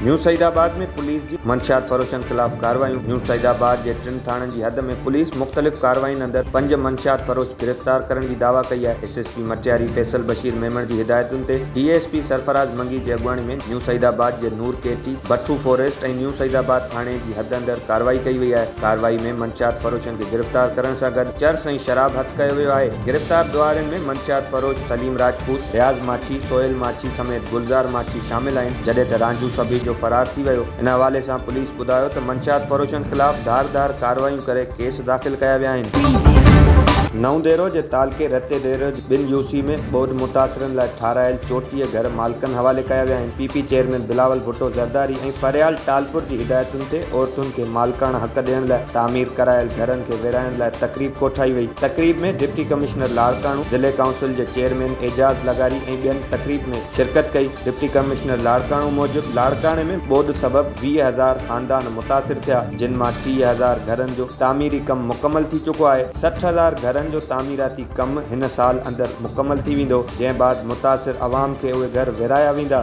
نيو Saeedabad ۾ police جي منشيات فروشن خلاف ڪارروايون نيو سعيد آباد جي ٽن ٿاڻن جي حد ۾ پوليس مختلف ڪاررواين اندر پنج منشيات فروش گرفتار ڪرڻ جي دعويٰ ڪئي آهي S S P Matiari Faisal Bashir Memon جي هدايتن تي D S P Sarfaraz Mangi جي اڳواڻي ۾ نيو سعيد آباد جي نور ڪي ٽي بٺو فاريسٽ ۽ نيو سعيد آباد ٿاڻي جي جي حد اندر ڪارروائي ڪئي وئي آهي، ڪارروائي ۾ منشيات فروشن کي گرفتار ڪرڻ سان گڏ چرس ۽ شراب هٿ ڪيو ويو آهي، گرفتار ڏوهارين ۾ منشيات فروش سليم راجپوت، رياض ماڇي، سهيل ماڇي سميت گلزار ماڇي شامل آهن، جڏهن ته رانجهو سڀيجو فرار ٿي ويو، ان حوالي سان پوليس ٻڌايو ته منشيات فروشن خلاف ڌار ڌار ڪارروايون ڪري ڪيس داخل ڪيا ويا آهن. نئون ديرو جي تعلقي رتي ديرو جي. ٻن يو سي ۾ ٻوڏ متاثرن لاء ٺاهرايل چوٽيهه گهر مالڪن حوالي ڪيا ويا آهن، P P chairman Bilawal Bhutto Zardari ۽ Faryal Talpur جي هدايتن تي عورتن کي مالڪاڻا حق ڏيڻ لاء تعمير ڪرايل گهرن کي ورهائڻ لاء تقريب ڪوٺائي وئي، تقريب ۾ ڊپٽي ڪمشنر لاڙڪاڻو، ضلعي ڪائونسل جي چيئرمين اعجاز لغاري ۽ ٻين تقريب ۾ شرڪت ڪئي، ڊپٽي ڪمشنر لاڙڪاڻو موجب لاڙڪاڻي ۾ ٻوڏ سبب ويهه هزار خاندان متاثر ٿيا جن مان ٽيهه هزار گهرن جو تعميري ڪم مڪمل ٿي چڪو آهي، سٺ هزار گهرن جو تعميراتي ڪم هن سال اندر مڪمل ٿي ويندو، جنهن بعد متاثر عوام کي اهي گهر ورهايا ويندا.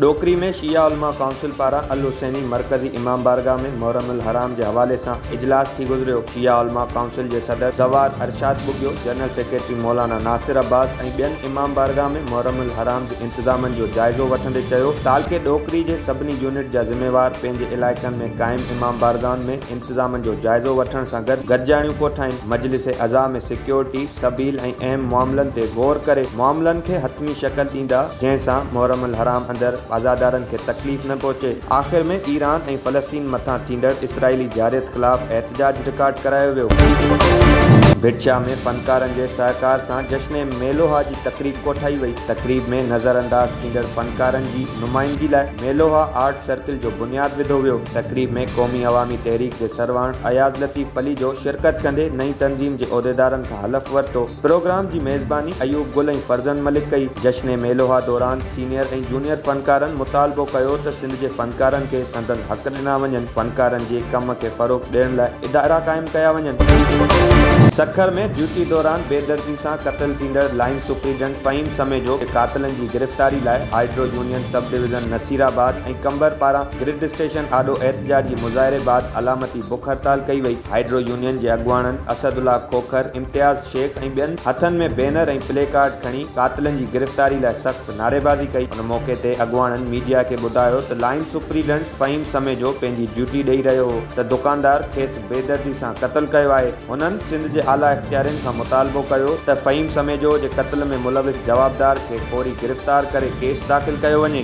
ڏوڪري ۾ شيعه علماء ڪائونسل پاران الحسيني مرڪزي امام بارگاهه ۾ محرم الحرام جي حوالي سان اجلاس ٿي گذريو، شيعه علماء ڪائونسل جي صدر زوار ارشاد ٻگهيو، جنرل سيڪريٽري مولانا ناصر عباس ۽ ٻين امام بارگاهه ۾ محرم الحرام جي انتظامن جو جائزو وٺندي چيو، تعلقي ڏوڪري جي سڀني يونٽ جا ذميوار پنهنجي علائقن ۾ قائم امام بارگاهن ۾ انتظامن جو جائزو وٺڻ سان گڏ گڏجاڻيون ڪوٺائين، مجلس عزا ۾ سيڪيورٽي، سبيل ۽ اهم معاملن تي غور ڪري معاملن کي حتمي شڪل ڏيندا جنهن سان محرم الحرام اندر عزادارن کي تڪليف نه پهچي. آخر ۾ ايران ۽ فلسطين مٿان ٿيندڙ اسرائيلي جارحيت خلاف احتجاج رڪارڊ ڪرايو ويو. ڀٽ شاهه ۾ فنڪارن جي سهڪار سان جشن ميلوهه جي تقريب ڪوٺائي وئي، تقريب ۾ نظرانداز ٿيندڙ فنڪارن جي نمائندگي لاء ميلوها آرٽ سرڪل جو بنياد وڌو ويو، تقريب ۾ قومي عوامي تحريڪ جي سرواڻ اياز لطيف پليجو شرڪت ڪندي نئين تنظيم جي عهديدارن کان حلف ورتو، پروگرام جي ميزباني ايوب گل ۽ فرزند ملڪ ڪئي، جشن ميلوها دوران سينيئر ۽ جونيئر فنڪارن مطالبو ڪيو ته سنڌ جي فنڪارن کي سندن حق ڏنا وڃن، فنڪارن جي ڪم کي فروغ ڏيڻ لاء ادارا قائم ڪيا وڃن. سکر ۾ ڊيوٽي دوران بيدردي سان قتل ٿيندڙ لائين سپريڊنٽ فهيم سميجو کي قاتلن جي گرفتاري لاء hydro union sub division Naseerabad ۽ Qambar پاران گرڊ اسٽيشن آڏو احتجاجي مظاهري بعد علامتي بک هڙتال ڪئي وئي، هائيڊرو يونين جي اڳواڻن اسد الله کوکر، امتياز شيخ ۽ ٻين هٿن ۾ بينر ۽ پلي ڪارڊ کڻي قاتلن جي گرفتاري لاء سخت نعريبازي ڪئي، ان موقعي تي اڳواڻن ميڊيا کي ٻڌايو ته لائين سپريڊنٽ فهيم سميجو پنهنجي ڊيوٽي ڏئي رهيو هو ته دڪاندار کيس بيدردي سان قتل ڪيو آهي، هنن سنڌ جي اعليٰ اختيارين کان مطالبو ڪيو ته فهيم سميجو جي قتل ۾ ملوث جوابدار کي فوري گرفتار ڪري ڪيس داخل ڪيو وڃي.